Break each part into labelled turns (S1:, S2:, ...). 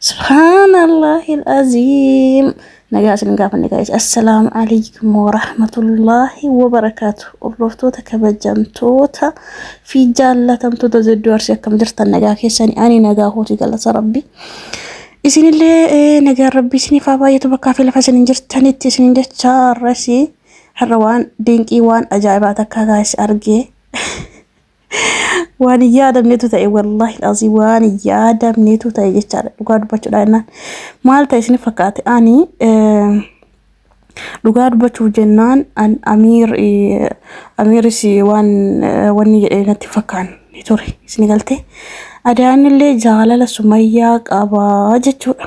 S1: Subhaanallahil aziim. Nagaa isin gaafanne gaa'is. Assalaamu alaikum wa rahmatullahi wa barakaatu. Hordoftoota kabajamtoota fi jaallatamtoota zedduu arsii akkam jirtan nagaa keessani ani nagaa kooti galata rabbi. Isinillee eh, nagaan rabbi isiniif haa baay'atu bakkaa fi lafa isin jirtanitti isin jecha har'asi har'a waan dinqii waan ajaa'ibaa takkaa gaa'is argee. waan hin yaadamnetu ta'e wallaahi asii waan hin yaadamnetu ta'e jechaadha dhugaa dubbachuudha jennaan maal ta'e isin fakkaate ani dhugaa dubbachuuf jennaan an amiir amiiris waan wanni jedhee natti fakkaan ture isin galte adaanillee jaalala sumayyaa qabaa jechuudha.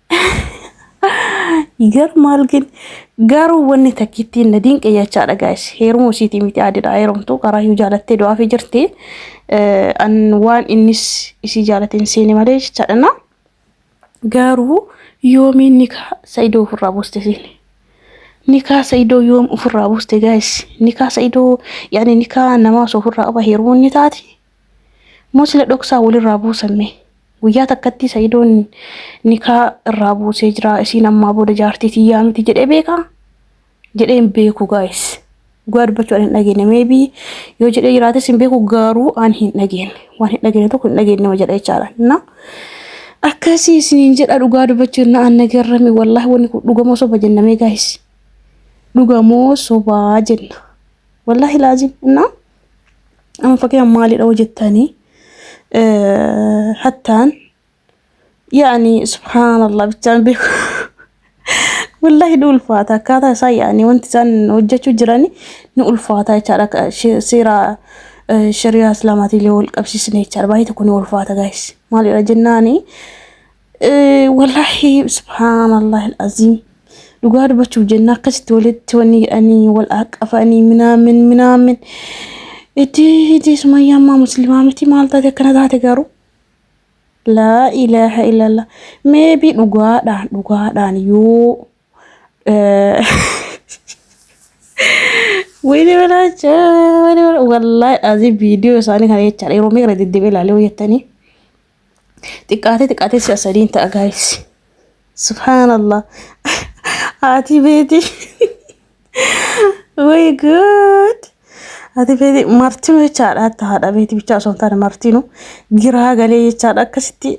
S1: Gar maal gin garuu wanni takkittiin na dinqe jechaa dhagaa'es heeruma isiitii miti aadidha heerumtu karaa yoo jaalattee du'aa fi jirti an waan innis isii jaalateen seene malee jechaadhana garuu yoomiin nikaa sa'idoo ofirraa buuste seene nikaa sa'idoo yoom ofirraa buuste gaa'es nikaa sa'idoo yaani nikaa namaa osoo ofirraa qaba heerumuun ni taati Moo sila dhoksaan walirraa buusan mee? Guyyaa takkattii Sa'idoon nikaa irraa buusee jira isiin ammaa booda jaartii tiyyaa miti jedhee beekaa? Jedhee hin beeku guys. Dhugaa dubbachuu ani hin dhageenne maybe yoo jedhee jiraates hin beeku garuu ani hin dhageenne. Waan hin dhageenne tokko hin dhageenne nama jedha jechaadha. Na akkasii isiniin jedha dhugaa dubbachuu na anna garrame wallaahi wanni kun dhugamoo soba jenna mee guys. Dhugamoo sobaa jenna. Wallaahi laazim na. Amma fakkeenyaaf maalidha hoo jettanii hattaan yaa'anii subhaanallah bichaan beeku. Wallahi ni ulfaata akkaataa isaa yaa'anii wanti isaan hojjechuu jirani ni ulfaata jechaadha akka she- seera eh, shari'aa islaamaatiin illee wal qabsiisne jechaadha baay'ee tokko ni ulfaata gaayis maalidha jennaani Wallaahi subhaanallaahi aziim dhugaa dubbachuuf jenna akkasitti walitti wanni jedhanii wal haqqafanii minaamin minaamin itti itti sumayyaa ammaa muslimaa miti maal taate akkana taate garuu laa ilaaha illallah meebii dhugaadhaan dhugaadhaan yoo Wayne Belacha, Wayne Belacha. Wallahi azii viidiyoo isaanii kana jechaadha. Yeroo meeqa deddeebi'ee ilaalee hojjettanii. xiqqaatee xiqqaatee si'a sadiin ta'a gaayis subhaanallah haati beeti way good haati beeti martinu jechaadha hatta haadha beeti bichaa osoo hin taane martinu giraa galee jechaadha akkasitti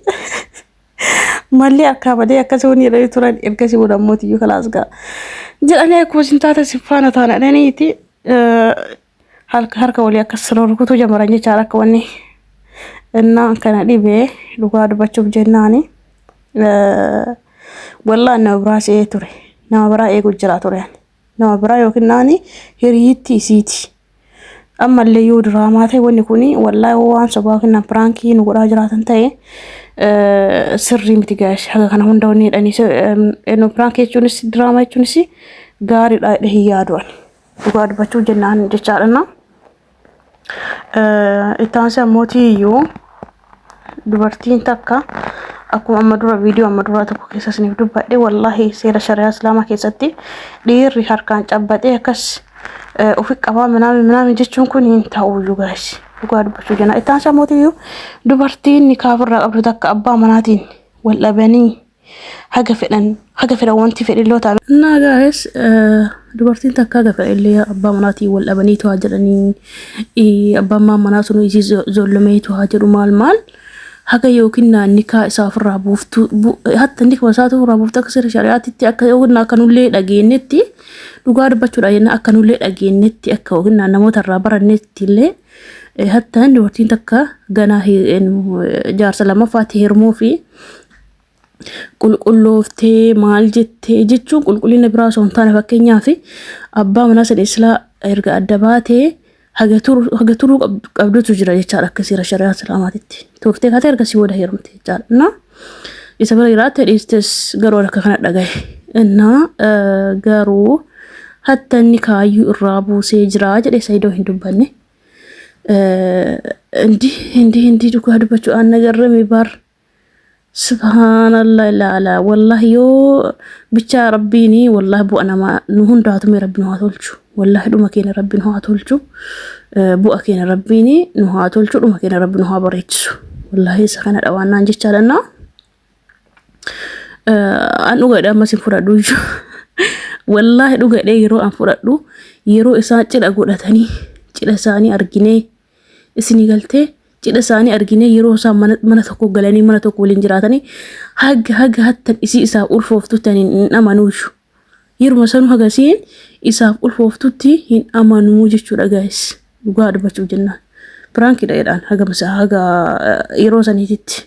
S1: mallee akkaa badee akkasii wani jedhanii turan ergasii booda ammoo tiyyuu kalaas gaa jedhanii akkuma isin taate siffaana taana jedhaniiti halka harka walii akka sirra rukutuu jamaran jechaadha akka wanni innaa kana dhibee dhugaa dubbachuuf jennaani wallaan nama biraa se'ee ture nama biraa eeguu jiraa ture nama biraa yookiin naani hiriyitti isiiti ammallee yoo diraamaa ta'e wanni kun wallaa waan sobaa yookiin nama piraankii nu godhaa jiraatan ta'e sirrii miti gaashe haga kana hunda wanni jedhanii piraankii jechuunis diraamaa jechuunis gaariidha jedhee hin yaadu'ani. Dhugaa dubbachuu jennaan jechaadha. Itti aansee ammoo iyyuu dubartiin takka akkuma amma dura viidiyoo amma duraa tokko keessa isiniif dubbadhe wallaahi seera shari'aa islaamaa keessatti dhiirri harkaan cabbaxee akkas eh, ofi qabaa minaami minaami jechuun kun hin ta'uyyuu gaasi dhugaa dubbachuu jenna itti aansaa mootiyyuu dubartiin nikaaf irraa qabdu takka abbaa manaatiin wal dhabanii haga fedhan haga fedhan wanti fedhilloo ta'an naa gaa'es dubartiin takka haga fedhillee abbaa manaatiin wal dhabanii tu'aa jedhanii abbaan maan manaa sun isii zollamee tu'aa jedhu maal maal haga yookiin naa nikaa isaa ofirraa buuftu hatta nikma isaa ofirraa buuftu akka seera shari'aatitti akka yookiin akka nullee dhageenyetti dhugaa dubbachuudha jenna akka nullee dhageenyetti akka yookiin namoota irraa barannetti illee hatta dubartiin takka ganaa jaarsa lammaffaatti hirmuu fi qulqullooftee maal jettee jechuun qulqullina biraa osoo hin taane fakkeenyaaf abbaa manaa sadii silaa erga adda baatee haga turu- haga turuu qabdu- qabdutu jira jechaadha akka seera shari'aa islaamaatitti turtee kaatee erga si booda heerumte jechaadha innaa isa bira jiraatte dhiistes garuu akka kana dhagahe innaa eh, garuu hatta inni kaayyuu irraa buusee jira jedhe sayidoo hin dubbanne Eh, hindi hindi hindi dhugaa dubbachuudhaan nagarrame baar Subhaanallah ilaala wallahi yoo bichaa rabbiini wallahi bu'a nama nu hundaatu mee rabbi nu haa tolchu wallahi dhuma keenya rabbi nu haa tolchu Eh, bu'a keenya rabbiini nu haa tolchu dhuma keenya rabbi nu haa bareechisu wallahi isa kana dhawaannaan jechaa dhannaa Eh, an dhugaadha ammas hin fudhadhu iyyuu wallaahi dhugaadha yeroo an fudhadhu yeroo isaan cidha godhatanii cidha isaanii arginee isinii galtee cidha isaanii arginee yeroo isaan mana, mana tokko galanii mana tokko waliin jiraatanii haga haga hattan isii isaaf ulfooftutti ani hin amanuushu yeruma sanuu haga isiin isaaf ulfooftutti hin amanuu jechuudha gaayis dhugaa dubbachuuf jennaan piraankidha jedhaan haga masa haga eh, yeroo saniititti.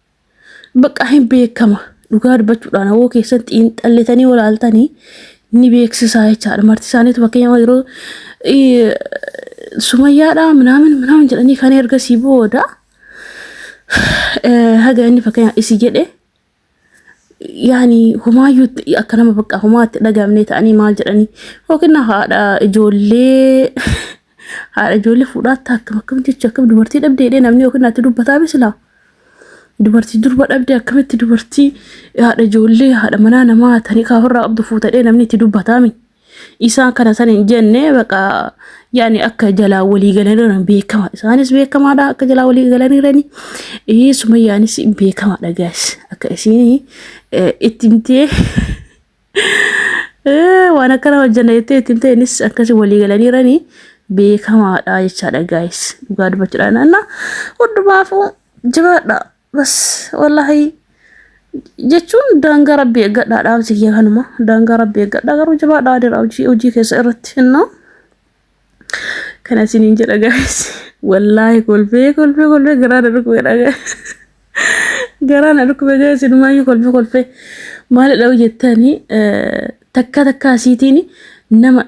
S1: Baqqaa hin beekama. Dhugaa dubbachuudhaan hawoo keessatti hin xallitanii olaaltanii ni beeksisaa jechaadha. Marti isaaniitu fakkeenyaaf yeroo sumayyaadhaa minaamin minaamin jedhanii kan ergasii booda haga inni fakkeenyaaf isi jedhe yaani humaayyuu akka nama bakka humaatti dhagamne ta'anii maal jedhanii yookiin haadha ijoollee Haadha ijoollee fuudhaatti akkam akkam jecha akkam dubartii dhabdee jedhee namni yookiin natti dubbataa misilaa. Dubartii durba dhabdee akkamitti dubartii haadha ijoollee haadha manaa namaa tanii kaafirraa qabdu fuutadhee namni itti dubbataami. Isaan kana san hin jenne baqa yaani akka jalaa walii galaniiran beekama. Isaanis beekamaadha akka jalaa walii galaniirani. Ee sumayyaanis beekamaadha gaas akka isiin itti himtee. Eh, waan akkana hojjanna jettee ittiin ta'enis akkasii walii galaniiranii beekamaadha jechaadha gaayis dhugaa dubbachuudha naanna hundumaafuu jabaadha bas wallahi jechuun daangaa rabbii eeggadhaa dhaamsi kiyya kanuma daangaa rabbii eeggadhaa garuu jabaadha adeera hojii hojii keessa irratti innaa Kana isiniin jedha guys. Wallaahi kolfee kolfee kolfee garaa na dhukkubeedha guys. Garaa na dhukkube guys inumaayyuu kolfee kolfee maalidha hojjettanii takka takka asiitiin nama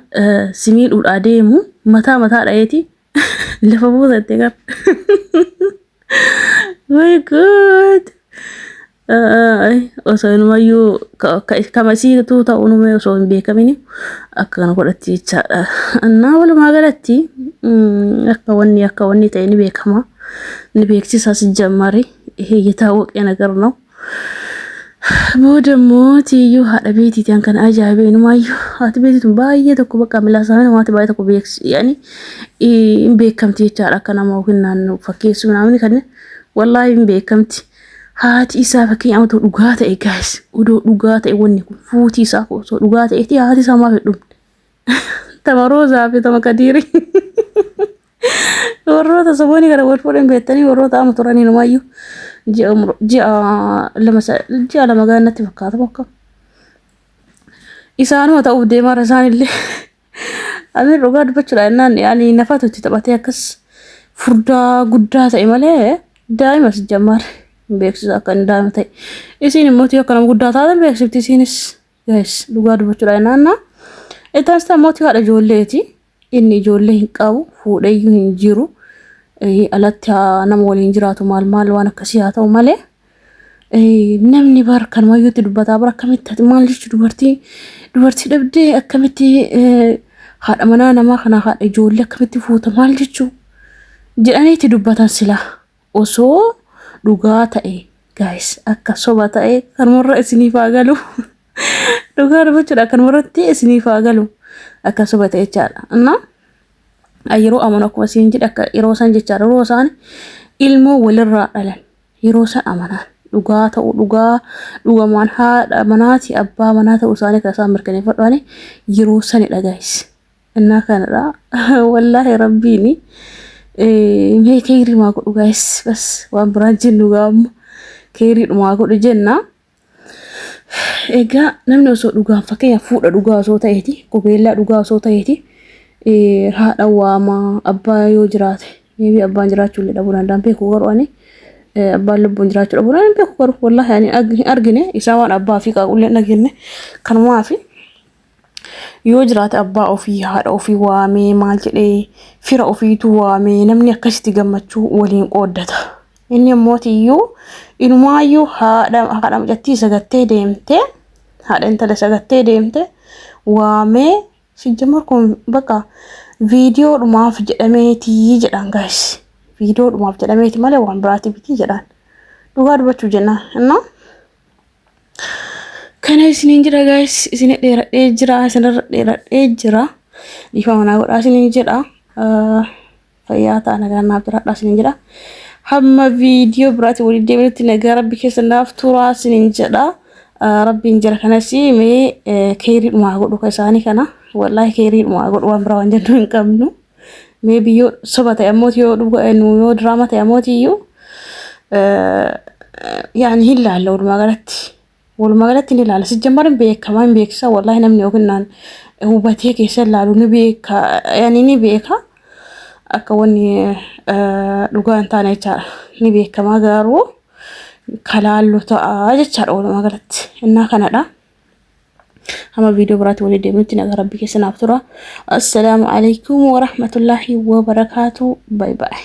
S1: simiidhuudhaa deemu mataa mataa dhayeeti lafa buusatte kan. Way good. osoo inumayyuu kamasiituu ta'uun umee osoo hin beekamin akka kana godhatti jechaadha. Annaa walumaa galatti akka wanni akka wanni ta'e ni beekama. Ni beeksisaas jammari hiyyataa waqee nagar na'u. Booda immoo tiyyuu haadha beetiiti an kana ajaa'ibee inumaayyuu haati beetiitun baay'ee tokko bakka milaasaa namaatti baay'ee tokko beeksi yaani hin beekamti jechaadha akka nama yookiin naannoo fakkeessuu naamni kan wallaahi hin beekamti. haati isaa fakkeenya otoo dhugaa ta'e gaayis odoo dhugaa ta'e wanni kun fuuti isaa kun osoo dhugaa ta'eeti haati isaa maaf hin dhumne tama roozaa fi tama kadiiri warroota saboonii kana wal fuudhan beektanii warroota ama turanii numaayyuu ji'a umru- ji'a lama sa- ji'a lama gaannatti fakkaata bakka isaanuma ta'uuf deemarra isaanillee Amir dhugaa dubbachuudha innaan yaani nafaatu itti taphatee akkas furdaa guddaa ta'e malee daa'ima si jammaar hin beeksisa akka inni daa'ima ta'e. Isiin immoo yoo akka nama guddaa taatan beeksifti isiinis gahes dhugaa dubbachuudha innaan naa. Ittaan sitaa mootii haadha ijoolleeti inni ijoollee hin qabu fuudheyyuu hin jiru. Eh, Alatti haa nama waliin jiraatu maal maal waan akkasii haa ta'u malee. Namni bar kan wayyuutti dubbataa bar akkamitti maal jechu dubartii dubartii dhabdee akkamitti haadha manaa namaa kana haadha ijoollee akkamitti fuuta maal jechu jedhaniitti dubbatan sila osoo dhugaa ta'e gaayis akka soba ta'e kanumarra isiniif haa galu dhugaa dubbachuudha kanumarratti isiniif haa galu akka soba ta'e jechaadha innaa yeroo amanu akkuma siin jedhe akka yeroo isaan jechaadha yeroo isaan ilmoo walirraa dhalan Yeroo san amanaan. dhugaa ta'uu dhugaa dhugamaan haadha manaati abbaa manaa ta'uu isaanii kan isaan mirkaneeffadhaani yeroo sanidha gaayis innaa kanadha wallaahi rabbiini mee keeyrii maa godhu gaayis bas waan biraan jennu gaamma keeyrii dhumaa godhu jennaa Egaa namni osoo dhugaan fakkeenya fuudha dhugaa osoo ta'eeti qubeellaa dhugaa osoo ta'eeti haadha waama abbaa yoo jiraate meebii abbaan jiraachuu illee dhabuu danda'an beeku garuu ani abbaan lubbuun jiraachuu dhabuu danda'an beeku garuu wallaahi ani argine isaa waan abbaa fi qaaqullee hin dhageenye kanumaa fi Yoo jiraate abbaa ofii haadha ofii waamee maal jedhee fira ofiitu waamee namni akkasitti gammachuu waliin qooddata. Inni immoo tiyyuu inumaayyuu haadha haadha mucattii sagattee deemtee haadha intala sagattee deemtee waamee sijjamar kun bakka viidiyoo dhumaaf jedhameetii jedhan gaayis. Viidiyoo dhumaaf jedhameeti malee waan biraati bitii jedhan. Dhugaa dubbachuu jennaan. Innaa Kana isiniin jira gaayis isin dheeradhee jira isinirra dheeradhee jira dhiifama naa godhaa isiniin jedha fayyaa ta'a nagaa naaf jiraadhaa isiniin jedha hamma viidiyoo biraatti waliin deebinutti nagaa rabbi keessa naaf turaa isiniin jedha rabbiin jira kanas mee keeriidhuma godhu ka isaanii kana wallaahi keeriidhuma godhu waan biraa waan jennu hin qabnu. Mee biyyoo soba ta'e ammooti yoo dhuga nu yoo diraama ta'e ammooti iyyuu yaani hin laalla walumaa galatti. Walumaa galatti ni laalla. Sijjambar hin beekama hin beeksisa wallaahi namni yookiin naan hubatee keessa laalu ni beeka yaani ni beeka akka wanni dhugaa hin taane jechaadha. Ni beekama garuu kalaallu ta'a jechaadha walumaa galatti. Innaa kanadha. Hama viidiyoo biraatti walii deemnutti nagaa rabbi keessa naaf tura. Assalaamu alaikum wa rahmatullahi wa barakaatu. Bye bye.